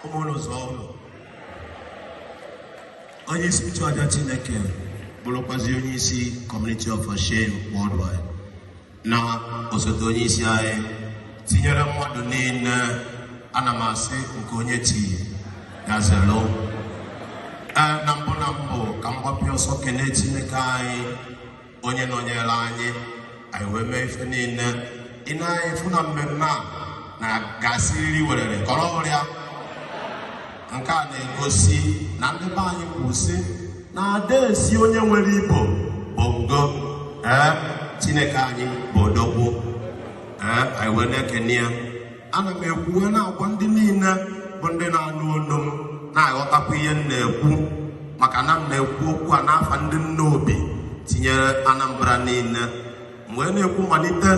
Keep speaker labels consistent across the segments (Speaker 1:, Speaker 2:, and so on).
Speaker 1: ụmụụlọ zụọ ụlọ onye isi nchụaja chineke bụrụkwazi onye isi Community of Hashem Worldwide na osote onye isi anyị tinyere mmadụ niile ana m asị nke onye chi ya zelu ee na mbụ na mbụ ka m gbapịa ọsọ kenee chineke anyị onye nọnyere anyị anyị wee mee ife niile ị na-afụ na mmemme a na-aga siriri werere kọrọ ọrịa nke a na-egosi na ndị be anyị kwuru sị na ada esi onye nwere ibo bụ ngo ee chineke anyị bụ odogwu ee anyị wee na-ekene ya ana m ekwu wee na-agwa ndị niile bụ ndị na-anụ olu m na-aghọtakwa ihe m na-ekwu maka na m na-ekwu okwu a n'afa ndị Nnobi tinyere anambra niile m wee na-ekwu malite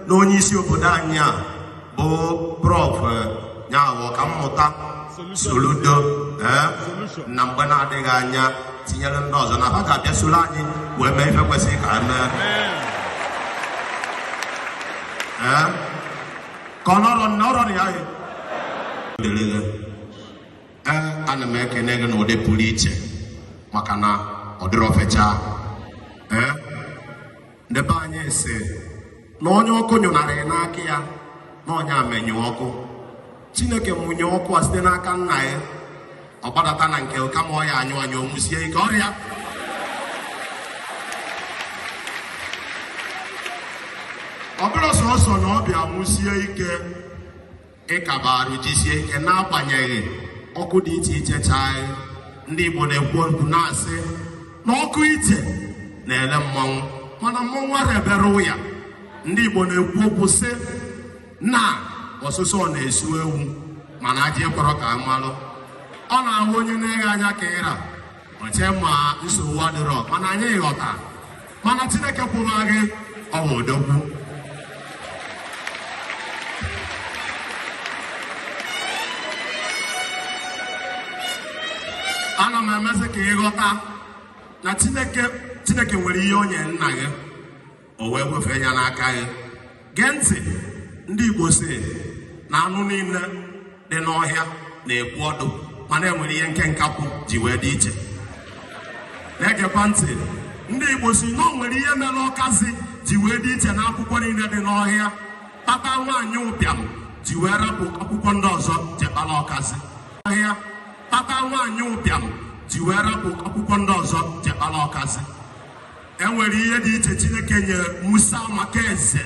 Speaker 1: na onye isi obodo anyị a bụ prọf nya bụ ọkammụta soludo ee na mgbe na-adịghị anya tinyere ndị ọzọ na fa ga-abịa soro anyị wee mee ife kwesịrị ka e mee ee ka ọ nọrọ nọrọ ya ya ana m ekene gị n'ụdị pụrụ iche maka na ọ dịrọ ofecha ndị be anyị si na onye ọkụ nyụnarị n'aka ya na nya emenyụ ọkụ chineke mụnye ọkụ a site n'aka nna ya ọ gbadata na nke kama ọ ya-anyụ anyụ ọ nwusie ike ọrịa ọ bụrọ sọsọ na ọ bịa nwusie ike ịkaba arụ jisie ike n'agbanyeghị ọkụ dị iche iche chaị ndị Igbo na-ekwu okwu na-asị na ọkụ ite na-ele mmanwụ mana mmanwụ ara ebere ụya ndị Igbo na-ekwu okwu sị na ọsụsọ na-esu ewu mana ajị ekwerọ ka a malụ ọ na-abụ onye nee gị anya ka ị ra o chee ma nsogbu adịrọ mana anyị aghọta mana chineke kwụrụ gị ụgwọ odogwu ana m emezi ka ị ghọta na chineke nwere ihe o nye nna gị o wee wefee ya n'aka gị gee ntị ndị Igbo si na anụ niile dị n'ọhịa na-ekwu ọdụ mana e nwere ihe nke nkakwụ ji wee dị iche na-egekwa ntị ndị Igbo si na o nwere ihe mere ọkazi ji wee dị iche na akwụkwọ niile dị n'ọhịa kpata nwaanyị ụbịam ji wee rapụ akwụkwọ ndị ọzọ je kpara ọkazi ọhịa kpata nwaanyị ụbịam ji wee rapụ akwụkwọ ndị ọzọ je kpara ọkazi e nwere ihe dị iche Chineke nyere Musa maka eze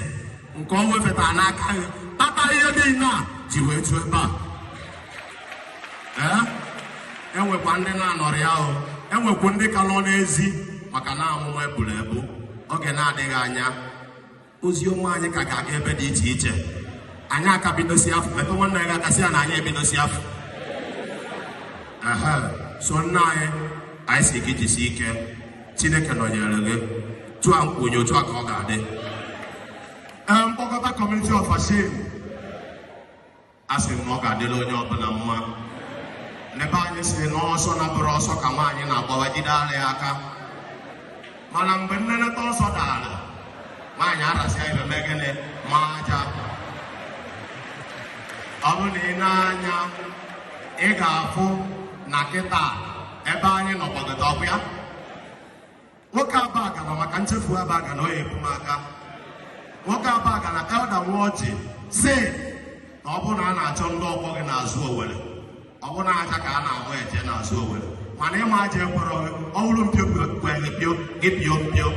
Speaker 1: nke o wefeta n'aka ya kpata ihe niile a ji wee ju ebe a ee enwekwa ndị na-anọrị ahụ enwekwu ndị ka nọ n'ezi maka na amụma eburu ebu oge na-adịghị anya ozi ọma anyị ka ga-aga ebe dị iche iche anyị aka bidosi afọ metụ nwanne gị aka sị ya na anyị ebidosi afọ so nna anyị anyị sị gị jisi ike chineke nọnyere gị otu a m kwuru otu a ka ọ ga-adị mkpọkọta kọmuniti ọfashim a sị m na ọ ga-adịlị onye ọbụla mma ndị be anyị sị na ọsọ na-abụrọ ọsọ ka nwaanyị na-agbawa jide ala ya aka mana mgbe nneneta ọsọ dara nwaanyị arasịa ibe mee gịnị ma aja ọ bụrụ na i nee anya ị ga-afụ na kịta ebe anyị nọ kpọgota ọkụ ya nwoke Abagana maka nchefu Abagana ọ ya ebu m aka nwoke Abagana Elder Nwọjị sị na ọ bụrụ na a na-achọ ndị ọgbọ gị n'azụ owere ọ bụrụ na aja ka a na-ama eje n'azụ owere mana ịma aja ekwerọ gị ọ bụrụ mpio kwere gị pio gị pio mpio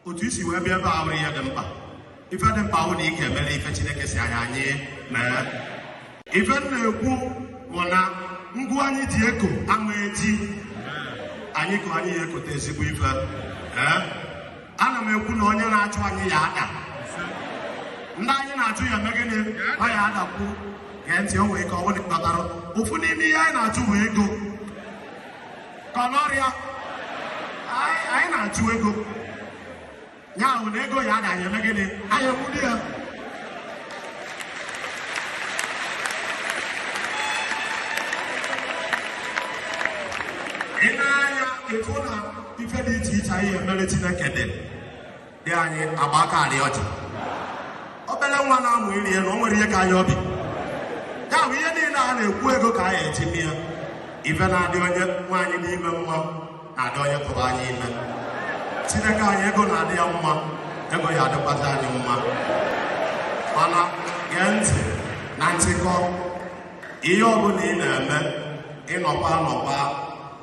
Speaker 1: otu i si wee bịa ebe a abụrọ ihe dị mkpa ife dị mkpa bụ na ị ga-eme ife Chineke sị anyị anyị mee ife m na-ekwu bụ na ngụ anyị ji eko ama eji anyị ka anyị ya ekote ezigbo ife ee ana m ekwu na onye na-achụ anyị ya ada ndị anyị na-achụ ya eme gịnị ọ ya adakwu gee ntị o nwere ike ọ bụrụ na ị kpatara ofu n'ime ihe anyị na-achụ bụ ego kọlọrịa anyị anyị na-achụ ego ya bụ na ego ya ada ya eme gịnị anyị ekwudi ya i nee anya etu na ife dị iche iche anyị emere chineke dị dị anyị agba aka arị ọjị obere nwa na-amụ ịrị elu o nwere ihe ka anyị obi ya bụ ihe niile a na-ekwu ego ka anyị etinye ya ife na-adị onye nwaanyị n'ime mma na-adị onye tụbara ya ime chineke anyị ego na-adị ya mma ego ya adịkwazi anyị mma mana gee ntị na nchịkọ ihe ọbụla ị na-eme ị nọkwa anọkwa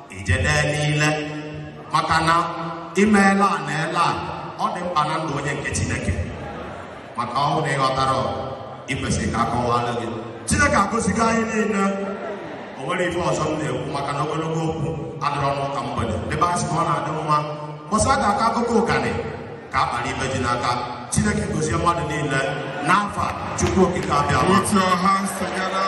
Speaker 1: ijede niile maka na imeela a na ele a ọ dị mkpa na ndụ onye nke chineke maka ọ bụrụ na ị ghọtarọ i kwesịrị ka a kọwalụ gị chineke agọzigo anyị niile o nwere ife ọzọ m na-ekwu maka na ogologo okwu adịrọ n'ụka mgbede ebe a sị ka ọ na-adị mma mụsa ga aka akụkọ ụganị ka a kpara ife ji na ka chineke gozie mmadụ niile n'afa chukwu okike abịama Put your hands together.